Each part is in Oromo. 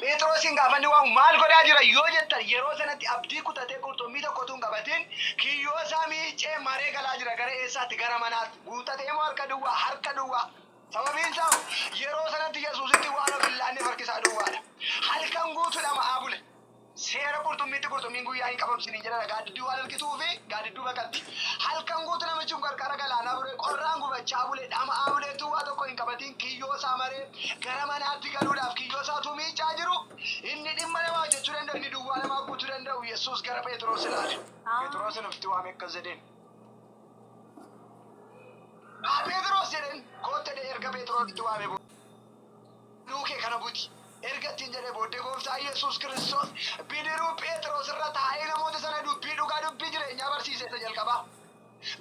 Pheexroosiin gaafanni waamu maal godhaa jira yoo jettan yeroo sanatti abdii kutatee qurxummii tokko utuu hin qabatin kiyyoo isaa miiccee maree galaa jira gara eessaatti gara manaatti guuttatee moo harka duwwaa harka duwwaa sababiin isaa hoo yeroo sanatti yesuusitti waan of hin laanneef harki isaa duwwaadha halkan guutuu dhama'aa bule Seera qurxummiitti qurxummiin guyyaa hin qabamsin hin jedhana gaaddidduu waan harkisuufi gaaddidduu baqatti. Halkan guutu namichi kun qarqara galaanaa bule, qorraan gubachaa bule, dhama'aa bule utuu waa tokko hin qabatiin kiyyoo isaa maree gara manaatti galuudhaaf kiyyoo isaa utuu miiccaa jiru inni dhimma namaa hojjechuu danda'u inni duwwaa namaa guutuu danda'u Yesuus gara Pheexiroos ilaale. Pheexiroosiin ofitti waamee akkas jedheen. Haa Pheexiroos jedheen koottedhee erga Pheexiroositti waamee booda. Duukee kana buti! erga ittiin jedhee booddee Gooftaan Yesuus Kiristoos bidiruu Pheexiroos irra taa'ee namoota sana dubbii dhugaa dubbii jireenyaa barsiise isa jalqabaa.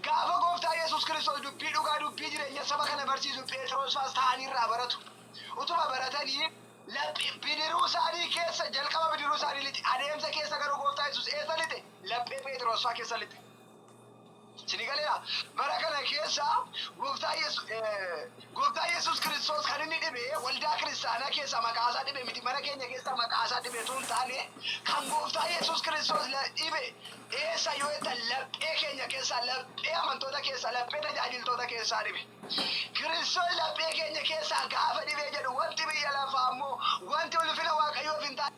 Gaafa Gooftaan Yesuus Kiristoos dubbii dhugaa dubbii jireenya saba kana barsiisu Pheexiroos faas taa'anii irraa baratu. Utuma baratanii laphee bidiruu isaanii keessa jalqaba bidiruu isaanii lixe adeemsa keessa garuu Gooftaa Yesuus eessa lixe? Laphee Pheexiroos faa keessa lixe. Sini galeera? Bara kana keessa Gooftaa Yesu, eh, Gooftaa Yesus Kiristoos kan inni dhibe waldaa kiristaanaa keessaa maqaa isaa dhibe miti, mana keenya keessaa maqaa isaa dhibe utuu hin taane, kan Gooftaa Yesus Kiristoos la- dhibe eessa yoo jettan laphee keenya keessaa, laphee amantoota keessaa, laphee tajaajiltoota keessaa dhibe. Kiristoos laphee keenya keessaa gaafa dhibee jedhu wanti biyya lafaa immoo wanti ulfina Waaqayyoof hin taane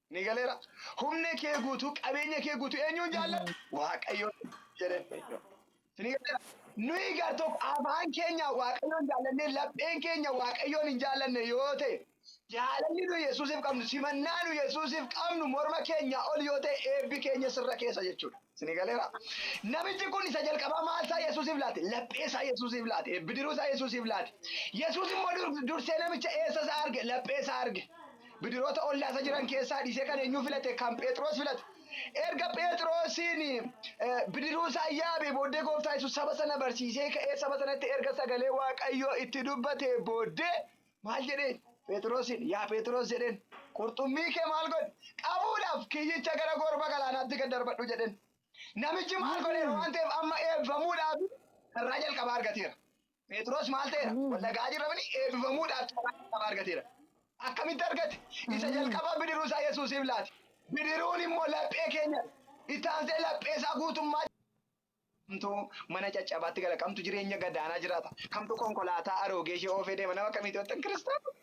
Ni galeera. Humna kee guutuu, qabeenya kee guutuu eenyuun jaallatta? Waaqayyoon jedheen. Waaqayyo. Ni galeera. Nuyi gar tokko afaan keenya Waaqayyoon jaallannee lapheen keenya Waaqayyoon hin jaallanne yoo ta'e, jaalalli nu Yesuusiif qabnu, simannaa nu Yesuusiif qabnu morma keenyaa ol yoo ta'e eebbi keenya sirra keessa jechuudha. Ni galeera. Namichi kun isa jalqabaa maal isaa Yesuusiif laate? Laphee isaa Yesuusiif laate. Bidiruu isaa Yesuusiif laate. Yesuus immoo dur- dursee namicha eessa isaa arge? Laphee isaa arge. Bidiroota ollaasa jiran keessaa dhiisee kan eenyuu filate? Kan Pheexiroos filate. Erga Pheexiroosiin bidiruusaa yaabee booddee Gooftaa Yesuus saba sana barsiisee ka'ee saba sanatti erga sagalee Waaqayyoo itti dubbatee booddee maal jedheen? Pheexiroosiin yaa Pheexiroos jedheen qurxummii kee maal godhi? Qabuudhaaf kiyyicha gara gorba galaanaatti gad darbadhu jedheen. Namichi maal godheera waan ta'eef amma eebbifamuudhaaf carraa jalqabaa argateera. Pheexiroos maal ta'eera? Ameen. Wal dhaga'aa jirra miti eebbifamuudhaaf carraa jalqabaa argateera. Akkamitti argate? Isa Ameen. jalqabaa bidiruu isaa Yesuusiif laate. Bidiruun immoo laphee keenya. Itti aansee laphee isaa guutummaa kamtu mana caccabaatti gala, kamtu jireenya gadaanaa jiraata, kamtu konkolaataa aroogee ishee oofee deema, nama akkamiitu jettan kiristaana?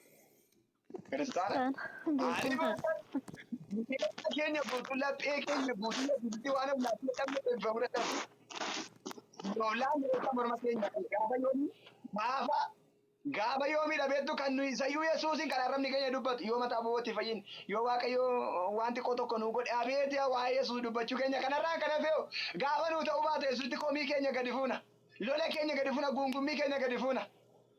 Kiristaana. Aalima Bineelda keenya guutuu laphee keenya guutuu laphee waan ammaa fi dhabne eebbifamu dadhabu. Yoolaan reeffa morma keenya kan gaafa yoomii maafa gaafa yoomii dhabeettu kan nuyi sayyuu Yesuusiin kan arrabni keenya dubbatu yoo mataa bobootti fayyin yoo waaqayyo waan xiqqoo tokko nuu godhe abeeti waa'ee Yesuus dubbachuu keenya kanarraa kan hafee gaafa nuu ta'uu baate Yesuusitti komii keenya gadi fuuna lola keenya gadi fuuna guungummii keenya gadi fuuna.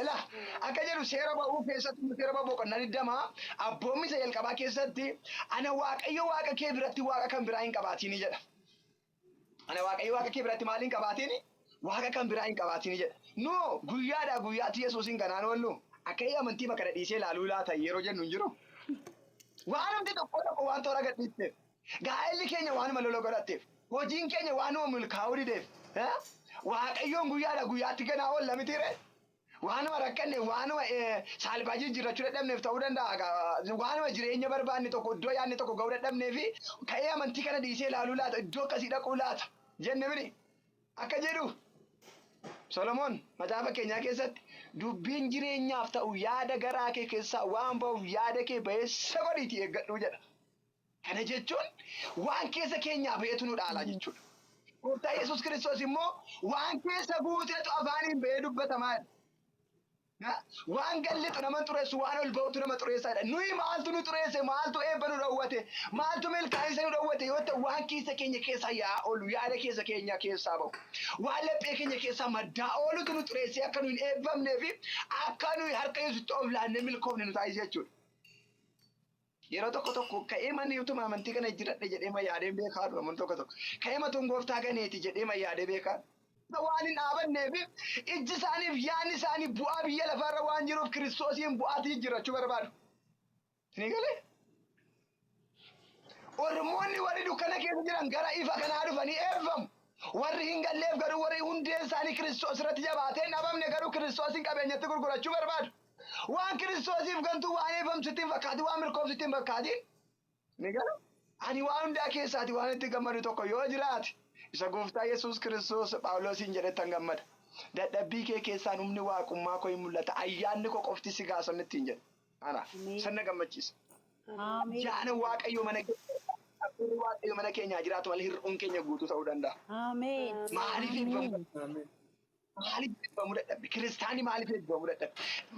Ilaa, akka jedhu Seera Ba'uu keessatti immoo Seera Ba'uu boqonnaa 20 abboommii isa jalqabaa keessatti ana Waaqayyo Waaqa kee biratti Waaqa kan biraa hin qabaatiini jedha. Ana Waaqayyo Waaqa kee biratti maal hin qabaatiini? Waaqa kan biraa hin qabaatiini jedha. Noo guyyaadhaa guyyaatti Yesuusiin kanaan oollu akka inni amantii kana dhiisee ilaaluu laata yeroo jennu hin jiru. Waan hundi tokko tokko waan toora gadhiisteef. Gaa'elli keenya waanuma lola godhatteef, hojiin keenya waanuma milkaa'uu dideef, Waaqayyoon guyyaadhaa guyyaatti ganaa oolla mitiiree? Waanuma rakkanneef, waanuma saalfaa jijjiirrachuu dadhabneef ta'uu danda'a, waanuma jireenya barbaanne tokko, iddoo yaadne tokko ga'uu dadhabneef ka'ee amantii kana dhiisee ilaaluu laata, iddoo akkasii dhaquu laata jenne miti. Akka jedhu Solomoon macaafa fakkeenyaa keessatti dubbiin jireenyaaf ta'u yaada garaa kee keessaa waan ba'uuf yaada kee ba'eessa godhiitii eeggadhu jedha. Kana jechuun waan keessa keenyaa ba'etu nu dhaala jechuudha. Gooftaa Yesuus Kiristoos immoo waan keessa guutetu afaaniin ba'ee dubbatama jedha. Na- Waan gad lixu nama hin xureessu, waan ol ba'utu nama xureessa jedha. Nuyi maaltu nu xureesse, maaltu eebba nu dhowwate, maaltu milkaa'insa nu dhowwate yoo ta'e waan keessa keenya keessaa yaa'aa oolu, yaada keessa keenyaa keessaa ba'u, waan laphee keenya keessaa maddaa oolutu nu xureessee akka nu hin eebbamnee fi akka nuyi harka Yesuusitti of laannee milkoofne nu taasisa jechuudha. Yeroo tokko tokko ka'eema ni utuma amantii kana jijjiradhe jedheema yaadeen beekaa dhu namoonni tokko tokko. Ka'eema tun gooftaa ganeeti jedheema yaadee beekaa dhu. waan hin dhaabanneef ijji isaaniif yaadni isaanii bu'aa biyya lafaa irra waan jiruuf kiristoosiin bu'aatti jijjiirrachuu barbaadu. Ni galee? Ormoonni warri dukkana keessa jiran gara ifa kanaa dhufanii eebbifamu. Warri hin galleef garuu warri hundeen isaanii kiristoos irratti jabaatee hin dhabamne garuu kiristoosiin qabeenyatti gurgurachuu barbaadu. Waan Kiristoosiif gantuu waan eebbifamtu sitti hin fakkaatin, waan milkooftu sitti hin fakkaatin. Ni gala. Ani waan hundaa keessaati waan itti gammadu tokko yoo jiraate, isa Gooftaa Yesuus Kiristoos Phaawuloosiin jedhettan gammada. Dadhabbii kee keessaan humni Waaqummaa koo in mul'ata, ayyaanni koo qofti si gaa san ittiin jedhe. Ana. Ameen. San na gammachiisa. Ameen. Ayyaana Waaqayyo mana keenya Hafuurri Waaqayyo mana keenyaa jiraatu malee hir'uun keenya guutuu ta'uu danda'a. Ameen. Maaliif hin Ameen. fayyadu? Ameen. Maaliif eebbifamuu dadhabe? Kiristaanni maaliif eebbifamuu dadhabe?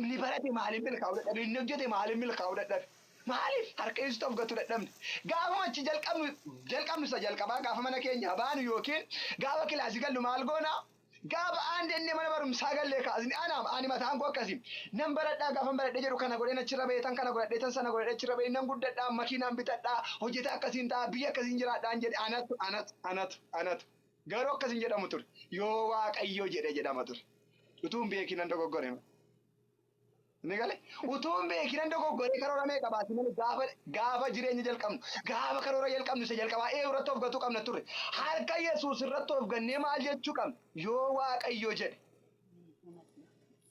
Inni barate maaliif milkaa'uu dadhabe? Inni hojjete maaliif milkaa'uu dadhabe? Maaliif harka Yesuusitti of gatuu dadhabne? Gaafuma achi jalqabnu jalqabnu isa jalqabaa gaafa mana keenyaa baanu yookiin gaafa kilaasii gallu maal goona? Gaafa aan jennee mana barumsaa gallee kaasne ana ani mataan koo akkasi. Nan baradhaa gaafan baradhee jedhu kana godheen achirra ba'ee tan kana godhadhee tan sana godhadhee achirra ba'ee nan guddadhaa makiinaan bitadhaa hojjetaa akkasiin ta'a biyya akkasiin jiraadhaan jedhe anatu anatu anatu anatu. Garuu akkas hin jedhamu ture. Yoo Waaqayyo jedhe jedhama ture. Utuu hin beekin nan dogoggore. Inni galee utuu hin beekin nan dogoggore karoora meeqa baasi malee gaafa gaafa jireenya jalqabnu gaafa karoora jalqabnu isa jalqabaa ee irratti of gatuu qabna ture. Harka Yesuus irratti of gannee maal jechuu qabna? Yoo Waaqayyo jedhe.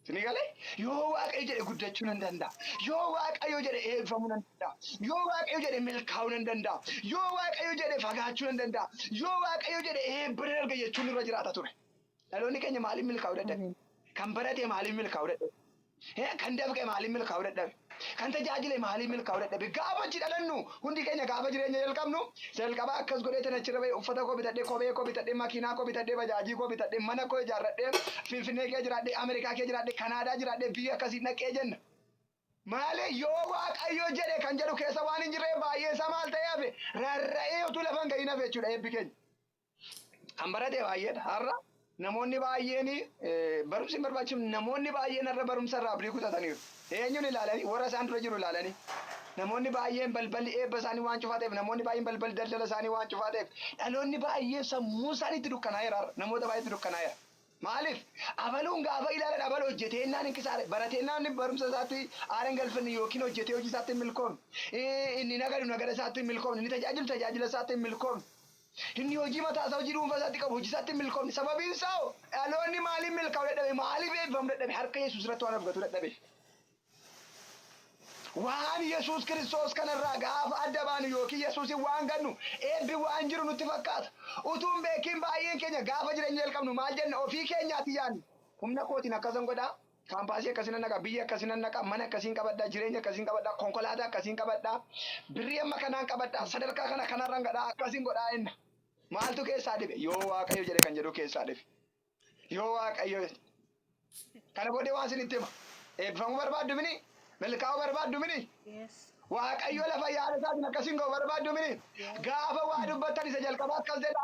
Sinii galee? Yoo Waaqayyo jedhe guddachuu nan danda'a. Yoo Waaqayyo jedhe eebbifamuu nan danda'a. Yoo Waaqayyo jedhe milkaa'uu nan danda'a. Yoo Waaqayyo jedhe fagaachuu nan danda'a. Yoo Waaqayyo jedhe eebba nan arga jechuun nurra jiraata ture. Dhaloonni keenya maaliin milkaa'uu dadhabe? Kan barate maaliin milkaa'uu dadhabe? Kan dafqe maaliin milkaa'uu dadhabe? Kan tajaajile maaliif milkaa'uu dadhabe? Gaafa achi dhalannu hundi keenya gaafa jireenya jalqabnu isa jalqabaa akkas godheetan achirra ba'e uffata koo bitadhe, kophee koo bitadhe, makiinaa koo bitadhe, bajaajii koo bitadhe, mana koo ijaarradhe, Finfinnee keessa jiraadhe, Ameerikaa keessa jiraadhe, Kanaadaa jiraadhe, biyya akkasiin dhaqe jenna. Maaliif? Yoo Waaqayyo jedhe kan jedhu keessa waan hin jirreef baay'eensaa maal ta'ee hafe? Rarra'ee utuu lafa hin ga'iin hafe jechuudha eebbi keenya. Kan barate baay'eedha. Har'a namoonni baay'een barumsi hin barbaachisu. Namoonni baay'een har'a barumsa irraa abdii kutataniiru. Eenyuun ilaalanii? Warra isaan dura jiru ilaalanii. Namoonni baay'een balballi eebba isaanii waan cufaa ta'eef, namoonni baay'een balballi daldala isaanii waan cufaa ta'eef, dhaloonni baay'een sammuun isaanii itti dukkanaa'eera har'a. Namoota baay'eetti dukkanaa'eera. Maaliif? Abaluun gaafa ilaalan abalu hojjeteennaan hin kisaare. Barateennaan inni barumsa isaatti aara hin galfanne yookiin hojjetee hojii isaatti hin milkoofne. Inni nagadu nagada isaatti hin milkoofne. Inni tajaajilu tajaajila isaatti hin milkoofne. Inni hojii mataa isaa, hojii dhuunfaa isaatti qabu, hojii isaatti hin milkoofne. Sababiin isaa hoo? Dhaloonni maaliin milkaa'uu dadhabe? Maaliif eebbifamuu dadhabe? Harka Yesuus irratti waan abdatuu dadhabeef. Waan Yesuus Kiristoos kana irraa gaafa adda baanu ykn Yesuusiin waan gannu eebbi waan jiru nutti fakkaata. Utuu hin beekiin baay'een keenya gaafa jireenya jalqabnu maal jenna? Ofii keenyaati yaanna. Humna kootiin akkasan godha, Kaampaasii akkasii nan dhaqa, biyya akkasii nan dhaqa, mana akkasiin qabadha, jireenya akkasiin qabadha, konkolaataa akkasiin qabadha, birrii amma kanaan qabadha, sadarkaa kana kanarran gadha, akkasin godha enna. Maaltu keessaa dhibe? Yoo Waaqayyo jedhe kan jedhu keessaa dhibe. Yoo Waaqayyo kana booddee waan isinitti hima. Eebbifamuu barbaaddu mini? Milkaa'uu barbaaddu mini? Yes. Waaqayyo lafa yaada isaatiin akkasiin ga'u barbaaddu mini? Yes. Gaafa waa dubbattan isa jalqabaa akkas jedha.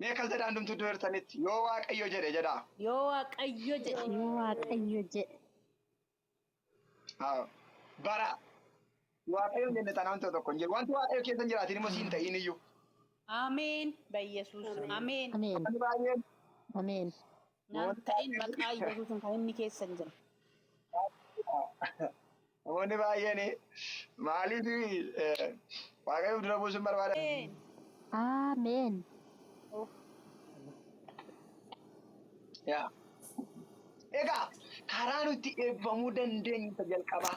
Mee akkas jedhaa hundumtuu iddoo jirtanitti yoo waaqayyo jedhe jedhaa. Yoo waaqayyo jedhe. Yoo waaqayyo jedhe. Haa. Bara waaqayyo hin jenne taanaan ta'u tokko hin jiru. Wanti waaqayyo keessa hin jiraatin immoo siin ta'iin iyyuu. Ameen. Bayyesuus. Ameen. Ameen. Namni baay'een Ameen. Naan ta'in maqaa Yesuusin kan inni keessan jira. Namoonni baay'een maaliif waaqayyoof dura buusuun barbaada? Ameen. Amen. Of. Yaa. Egaa karaa nuti eebbifamuu dandeenyu isa jalqabaa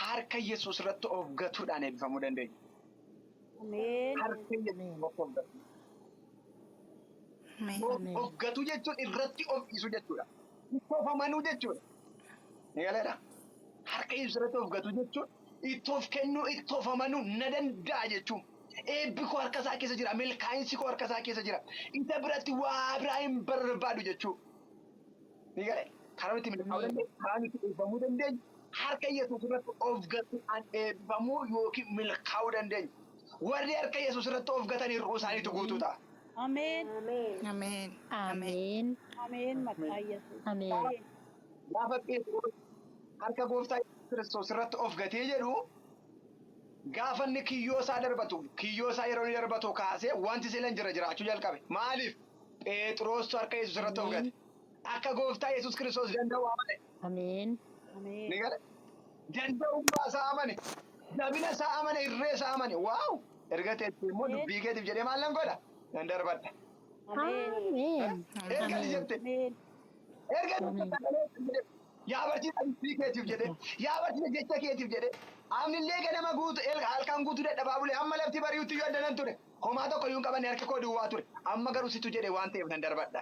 harka Yesuus irratti of gatuudhaan eebbifamuu dandeenya. Ameen. Harka Yesuus irratti of gatuudhaan. Of gatuu jechuun irratti of dhiisuu jechuudha. Itti of amanuu jechuudha. Ni galeera. Harka ibsu irratti of gatuu jechuun itti of kennuu, itti of amanuu na danda'a jechuun. Eebbi koo harka isaa keessa jira, milkaa'insi koo harka isaa keessa jira. Isa biratti waa biraa hin barbaadu jechuu. Ni gale. Karaa nuti milkaa'uu dandeenyu, karaa nuti eebbamuu dandeenyu, harka Yesuus irratti of gatuu an eebbamuu yookiin milkaa'uu dandeenyu. Warri harka Yesuus irratti of gatan hir'uu isaaniitu guutuu ta'a. Ameen. Ameen. Ameen. Ameen. Ameen maqaa Yesuus. Ameen. Ameen. Gaafa Pheexiroos harka gooftaa Yesuus Kiristoos irratti of gatee jedhu gaafa inni kiyyoo isaa darbatu kiyyoo isaa yeroo inni darbatu kaasee wanti sila hin jira jiraachuu jalqabe. Maaliif? Pheexiroostu harka Yesuus irratti of gate. Ameen. Akka Gooftaa Yesuus Kiristoos danda'u amane. Ameen. Ni gale. Danda'ummaa isaa amane. Jabina isaa amane, irree isaa amane. Waaw! Erga teessee immoo dubbii keetiif jedhee maal nan godha? Nan darbadha. Ameen. Erga ni jette. Erga ni jette sagalee kan jedhe. Yaa barsiisa dubbii keetiif jedhee. Yaa barsiisa jecha keetiif jedhee. Amnillee ganama guutu, el- halkan guutuu dadhabaa bule. Amma lafti bari'utti yoo adda nan ture. Homaa tokko iyyuu hin qabanne harki koo duwwaa ture. Amma garuu situ jedhe waan ta'eef nan darbadha.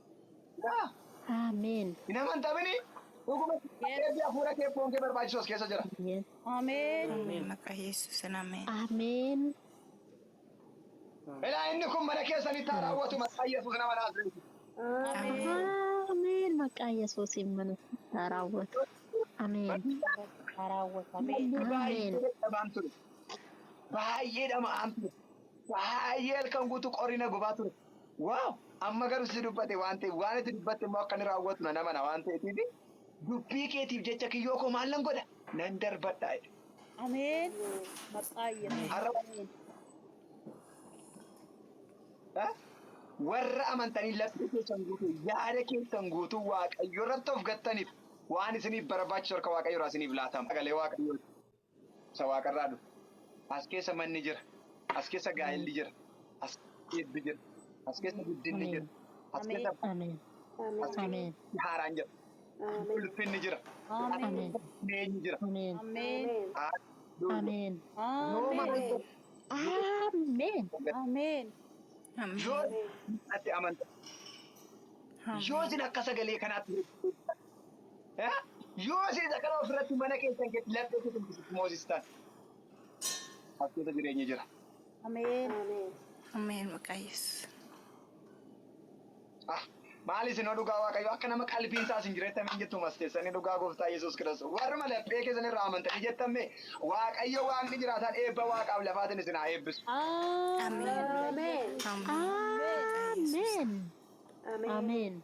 Yaa! Ameen. Hin amantamini. Dhuguma Yes. eebbi hafuura kee foon kee barbaachisoos keessa jira. Ameen. Ameen. Ameen. Maqaa Yesuusin ameen. Ameen. Ilaa inni kun mana keessanitti haa raawwatu maqaa Yesuus nama Naazreeti. Ameen. Ameen. Maqaa Yesuusiin mana keessatti haa raawwatu. Ameen. Haa raawwatu. Ameen. Namni baay'ee Ameen. dadhabaan ture. Baay'ee dhama'aan ture. Baay'ee halkan guutuu qorrina gubaa ture. Wow! Amma garuu situ dubbate waan ta'eef waan ati dubbatte immoo akka inni raawwatu nan amana waan ta'eetiif dubbii keetiif jecha kiyyoo koo maal nan godha? Nan darbadha jedhe. Ameen. Maqaa Yesuus. Har'a Ameen. eh, warra amantanii laphee keessan guutuu yaada keessan guutuu waaqayyo irratti of gattaniif waan isiniif barbaachisu harka waaqayyo irraa isiniif laatama. Sagalee waaqayyooti. isa waaqarraa dhufe. As keessa manni jira. As keessa gaa'elli jira. As keessa eebbi jira. As keessa guddinni jira. As keessa Ameen. as keessa Ameen. haaraan jira. Ulfinni jira. As Ameen. keessa jireenyi jira. Ameen. Ameen. Haalleluuyaa. Ameen. Yooma Ameen. Ameen. Ameen. yoo ati amanta yoo isin akka sagalee kanaatti Yoo isin isa kana ofirratti mana keessan keessatti laphee keessan keessatti moosistan as keessa jireenyi jira. Ameen. Ameen maqaa Yesuus. Ah, maal isin dhugaa waaqayyo akka nama qalbiin isaa isin jireetti ameen jettu mas keessanii dhugaa gooftaa Yesuus Kiristoos warruma laphee keessan irraa amantanii jettamme waaqayyo waaqni jiraataan eebba waaqaaf lafaatiin isin haa eebbisu. Ameen. Ameen. Ameen. Ameen.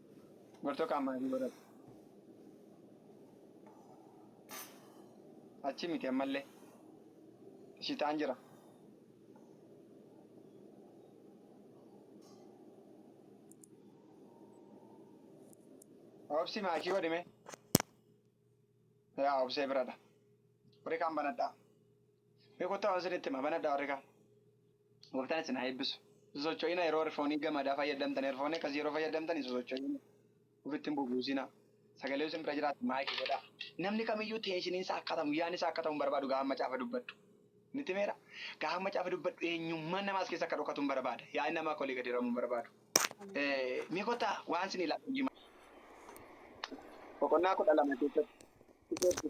Murtoo qaamaa fi warra achi miti ammallee shitaan jira. Obsi maakii godhime. Yaa obsee biradha. Warri kaan banadhaa. Beekottaa waan sinitti hima banadhaa warri kaan. Gooftaan isin haa eebbisu. Sosocho'ina yeroo erfoonii gamadaa fayyadamtan erfoonii akkasii yeroo fayyadamtan hin sosocho'ina. Ofitti hin bubuusina. Sagalee isin bira jiraatu maayikii godhaa. Namni kamiyyuu teeshiniin isaa akka ta'u yaadni isaa akka ta'u hin barbaadu gaafa macaafa dubbadhu. Niti meera? Gaafa macaafa dubbadhu eenyummaan namaa as keessa akka dhokatu hin barbaada. Yaadni namaa akka olii gadi hiramu hin barbaadu. Mee kottaa waan isin ilaalu hojii boqonnaa kudha lama keessatti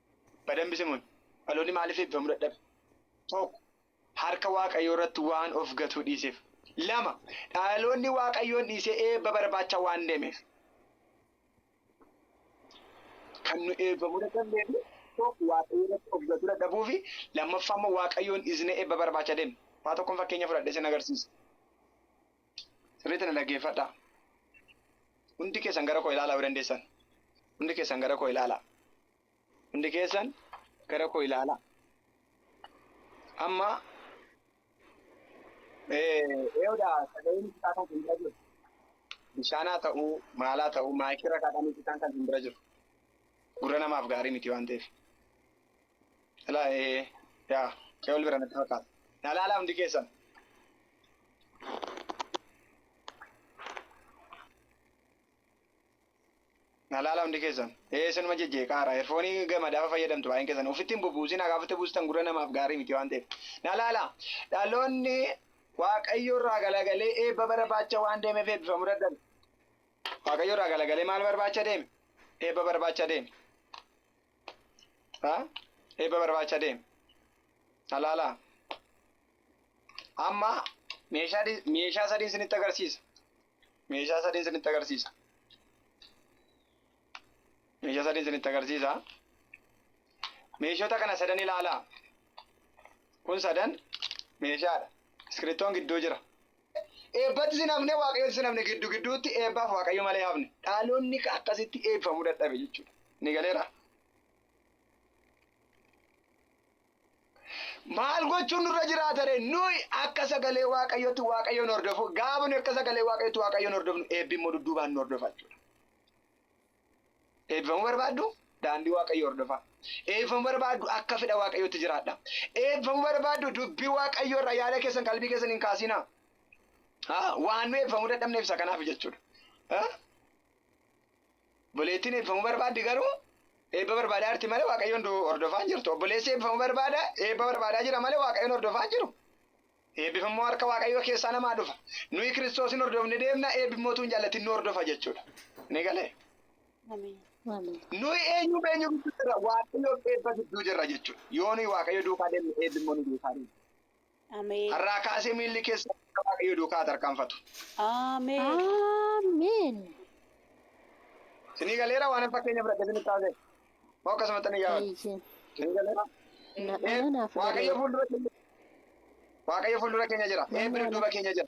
Badanbi simuun, dhaloonni maaliif eebbifamuu dadhabe? 1, Harka Waaqayyoo irratti waan of gatuu dhiiseef. 2, Dhaloonni Waaqayyoon dhiisee eebba barbaacha waan deemeef. Kan nu eebbifamuu dadhabneef, 1, Waaqayyoo irratti of gatuu dadhabuu fi 2ffaa immoo Waaqayyoon dhiisnee eebba barbaacha deemne. Faa tokkon fakkeenya fudhadhee sin agarsiisa. Sirriitti na dhaggeeffadhaa. Hundi keessan gara koo ilaalaa yoo dandeessan. Hundi keessan gara koo ilaalaa. Hundi keessan gara koo ilaalaa. Amma eeyoodha sagaleen isaa kan simbira jiru. Bishaanaa ta'uu maalaa ta'uu maayikirra kaadhaan isaan kan simbira jiru. Gurra namaaf gaarii miti waan ta'eef. Ilaa ee yaa qe'ol bira natti fakkaata. Na ilaalaa hundi keessan. na laala hundi keessan ee isinuma jejjee qaara erfoonii gamadafa fayyadamtu baay'een keessan ofitti hin bubuusin hagaa ofitti buustan gurra namaaf gaarii miti waan ta'eef na laala dhaloonni waaqayyo irraa galagalee eebba barbaacha waan deemeef eebbifamu dadhabe waaqayyo irraa galagalee maal barbaacha deeme eebba barbaacha deeme ha eebba barbaacha deeme na laala Amma meeshaa di- meeshaa sadiin isinitti agarsiisa. Meeshaa sadiin isinitti agarsiisa. Meeshaa sadiin isinitti agarsiisa. Meeshota kana sadan ilaalaa. Kun sadan meeshaadha. Iskiriptoon gidduu jira. Eebbatti sin hafne waaqayyotti sin hafne giddu gidduutti eebbaaf waaqayyo malee hafne. Dhaalonni akkasitti eebbifamuu dadhabe jechuudha. Ni galeera. Maal gochuun nurra jiraata ree? Nuyi akka sagalee Waaqayyootti Waaqayyoon hordofu, gaafa nuyi akka sagalee Waaqayyootti Waaqayyoon hordofnu eebbi immoo dudduubaan nu hordofa jechuudha. Eebbifamuu barbaaddu? Daandii Waaqayyoo hordofaa. Eebbifamuu barbaaddu akka fedha Waaqayyootti jiraadha. Eebbifamuu barbaaddu dubbii Waaqayyoo irraa yaada keessan qalbii keessan hin kaasinaa. Haa, waan nu eebbifamuu dadhabneef isa kanaaf jechuudha. Haa? Obboleettiin eebbifamuu barbaaddi garuu eebba barbaadaa jirti malee Waaqayyoon du- hordofaa hin jirtu. Obboleessi eebbifamuu barbaada eebba barbaadaa jira malee Waaqayyoon hordofaa hin jiru. Eebbi immoo harka Waaqayyoo keessaa namaa dhufa. Nuyi Kiristoosin hordofne deemna eebbi immoo utuu hin jaallatin nu hordofa jechuudha. Ni galee? Ameen. Ameen. Nuyi eenyuuf eenyu gidduu jirra? Waaqayyoof eebba gidduu jirra jechuudha. Yoo nuyi Waaqayyo duukaa deemne eebbi immoo nu duukaa deema. Ameen. Har'aa kaasee miilli keessan akka Waaqayyo duukaa haa tarkaanfatu. Ameen. Ameen. Sinii galeera waanan fakkeenya fudhadhe sinitti haasa'e. Moo akkasumatti ani yaadu. Eeyyee. Sinii galeera. Na- Ee, ana naaf Waaqayyo galeera. fuuldura keenya Waaqayyo fuuldura keenya jira. Nama Eebbi ana- dudduuba keenya jira.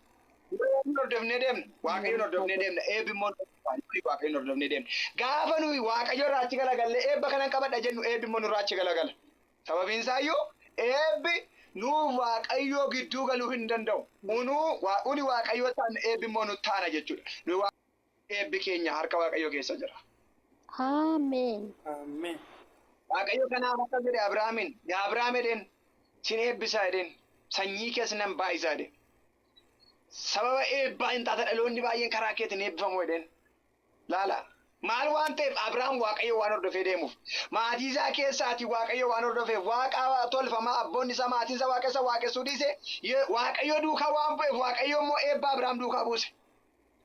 Waaqayyoon hordofnee deemna. Waaqayyoon Nama hordofnee galeera. deemna. Eebbi immoo nurraa hin dhufu. Waaqayyoon hordofnee deemna. Gaafa nuyi Waaqayyo irraa achi galagalle eebba kanan qabadha jennu eebbi immoo nurraa achi galagala. Sababiinsaayyuu eebbi nuuf Waaqayyoo gidduu galuu hin danda'u. Unuu uni Waaqayyoo taanna eebbi immoo nut taana jechuudha. Nuyi Waaqayyoo miti eebbi keenya harka Waaqayyoo keessa jira. Amen. Waaqayyo kanaaf akkas jedhe Abrahaamiin, Yaa Abrahaam jedheen, sin eebbisa jedheen, sanyii kees nan baay'isa jedheen. Sababa eebbaa in taata dhaloonni baay'een karaa keetiin eebbifamu jedheen. Laalaa, maal waan ta'eef Abraam Waaqayyo waan hordofee deemuuf, maatii isaa keessaatii Waaqayyo waan hordofeef, waaqa tolfamaa abboonni isaa maatiin isaa Waaqessa waaqessuu dhiise, Waaqayyo duukaa waan bu'eef Waaqayyo immoo eebba Abraam duukaa buuse.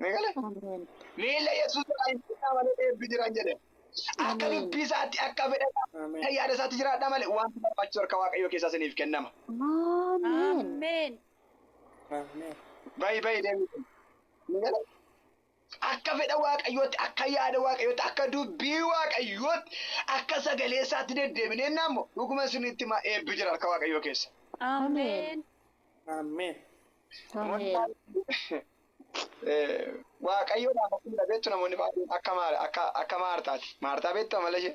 Ni gale? Ameen. Miila Yesuus irraa hin bu'inaa malee eebbi jiran jedhe. Akka Ameen. dubbii isaatti, akka fedha isaatti, Ameen. akka yaada isaatti jiraadhaa malee wanti barbaachisu harka Waaqayyoo keessaa isiniif kennama. Ameen. Ameen. Ameen. Bayi bayi deemuu. Ni gale? Akka fedha Waaqayyootti, akka yaada Waaqayyootti, akka dubbii Waaqayyootti, akka sagalee isaatti deddeebinee ennaa immoo dhuguman isinitti hima eebbi jira harka Waaqayyoo keessa. Ameen. Ameen. Ameen. Waaqayyoodhaaf akkuma beektu namoonni baay'een akka Maartaati. Maartaa beektu amala ishee?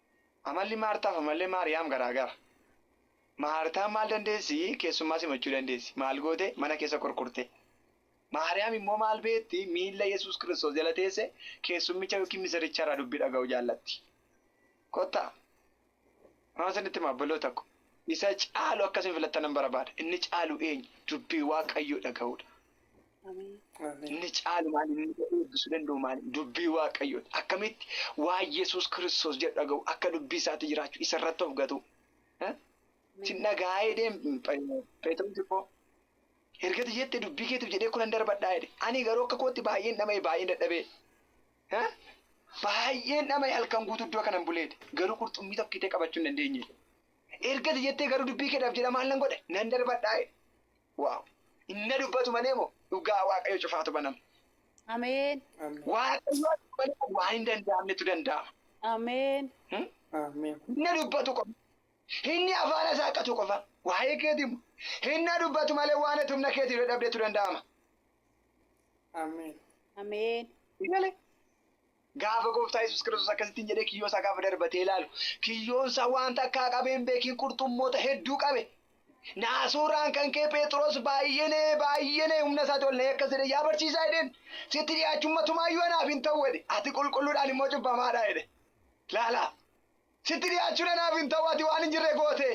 Amalli Maartaaf amallee Maariyaam garaa gara. Maartaan maal dandeessi? Keessummaa simachuu dandeessi. Maal goote? Mana keessa kurkurte. Maariyaam immoo maal beekti? Miilla Yesuus Kiristoos jala teesse keessummicha ykn misirricha irraa dubbii dhaga'uu jaallatti. Kottaa! Waan isinitti hima obboloota ko, isa caalu akka isin filattanan barbaada. Inni caalu eenyu? Dubbii Waaqayyoo dhaga'uu dha. Inni caalu maal inni eebbisuu danda'u maal dubbii waaqayyooti. Akkamitti waa Yesuus kiristoos jedhu dhaga'u akka dubbii isaatti jiraachuu isa irratti of gatuu. Sin dhagaa'ee deem Pheexiroos koo ergati jette dubbii keetiif jedhee kunan darbadhaa jedhe. Ani garuu akka kootti baay'een dhama'e baay'een dadhabee. Baay'een dhama'e halkan guutuu iddoo kanan buleedhe. Garuu qurxummii tokko itee qabachuu hin dandeenye. Ergati jettee garuu dubbii keedhaaf jedha maal nan godhe nan darbadhaa jedhe. Wow inna dubbatu malee moo dhugaa waaqayyo cufaatu banama. Ameen. Waaqayyo malee waan hin danda'amnetu danda'ama. Ameen. Inna dubbatu qofa. Inni afaan isaa qatu qofa. Waa'ee keeti immoo. Inna dubbatu malee waan ati humna keetiin dadhabdetu danda'ama. Ameen. Ameen. Malee. Gaafa Gooftaa Yesuus Kiristoos akkasittiin jedhee kiyyoo isaa gaafa darbatee ilaalu, kiyyoon isaa waan takkaa qabee hin beekin qurxummoota hedduu qabe. Naasuu irraan kan ka'e Pheexroos baay'ee na'ee baay'ee na'ee humna isaati ol na'ee akkas jedhe yaa barsiisaa jedheen sitti dhiyaachuun matumaa iyyuu anaaf hin ta'u jedhe ati qulqulluudhaan immoo cubbamaadha jedhe. Laalaa! Sitti dhiyaachuun anaaf hin ta'u, ati waan hin jirre goote,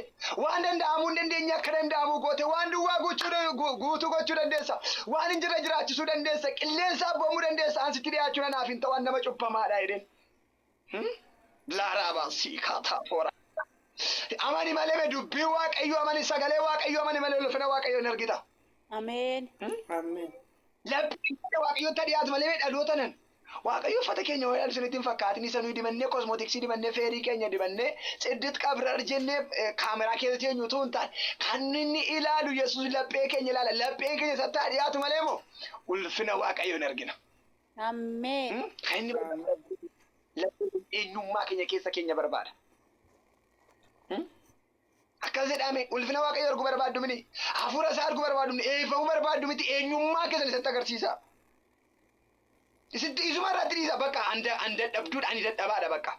waan danda'amuu hin dandeenye akka danda'amuu goote, waan duwwaa guutuu gochuu dandeessa, waan hin jirre jiraachisuu dandeessa, qilleensa abboomuu dandeessa, an sitti dhiyaachuun anaaf hin ta'u, an nama cubbamaadha jedheen. Laaraabaa siikaa taapooraa. Amani malee me dubbii waaqayyoo amani sagalee waaqayyoo amani malee ulfina waaqayyoo hin argita. Ameen. Lapheen kee waaqayyotti dhiyaatu malee dhaloota nan Waaqayyo uffata keenya wayyaa isinitti hin fakkaatin isa nuyi dibannee kosmootiksii dibannee feerii keenya dibannee tsiddit qabrar jennee kaameraa keessa teenyu utuu hin taane kan inni ilaalu Yesuus laphee keenya ilaala lapheen keenya isatti haa dhiyaatu malee moo ulfina Waaqayyo hin argina. Ammeen. Hmm? Kan inni barbaadu laphee keenya eenyummaa keenya keessa keenya barbaada. Hmm? Akkas jedhame ulfina Waaqayyo arguu barbaaddu mini hafuura isaa arguu barbaaddu mini eebbifamuu barbaaddu miti eenyummaa keessan isatti agarsiisa. Isitti isuma irratti dhiisa bakka an da- an dadhabduudha ani dadhabaadha bakka.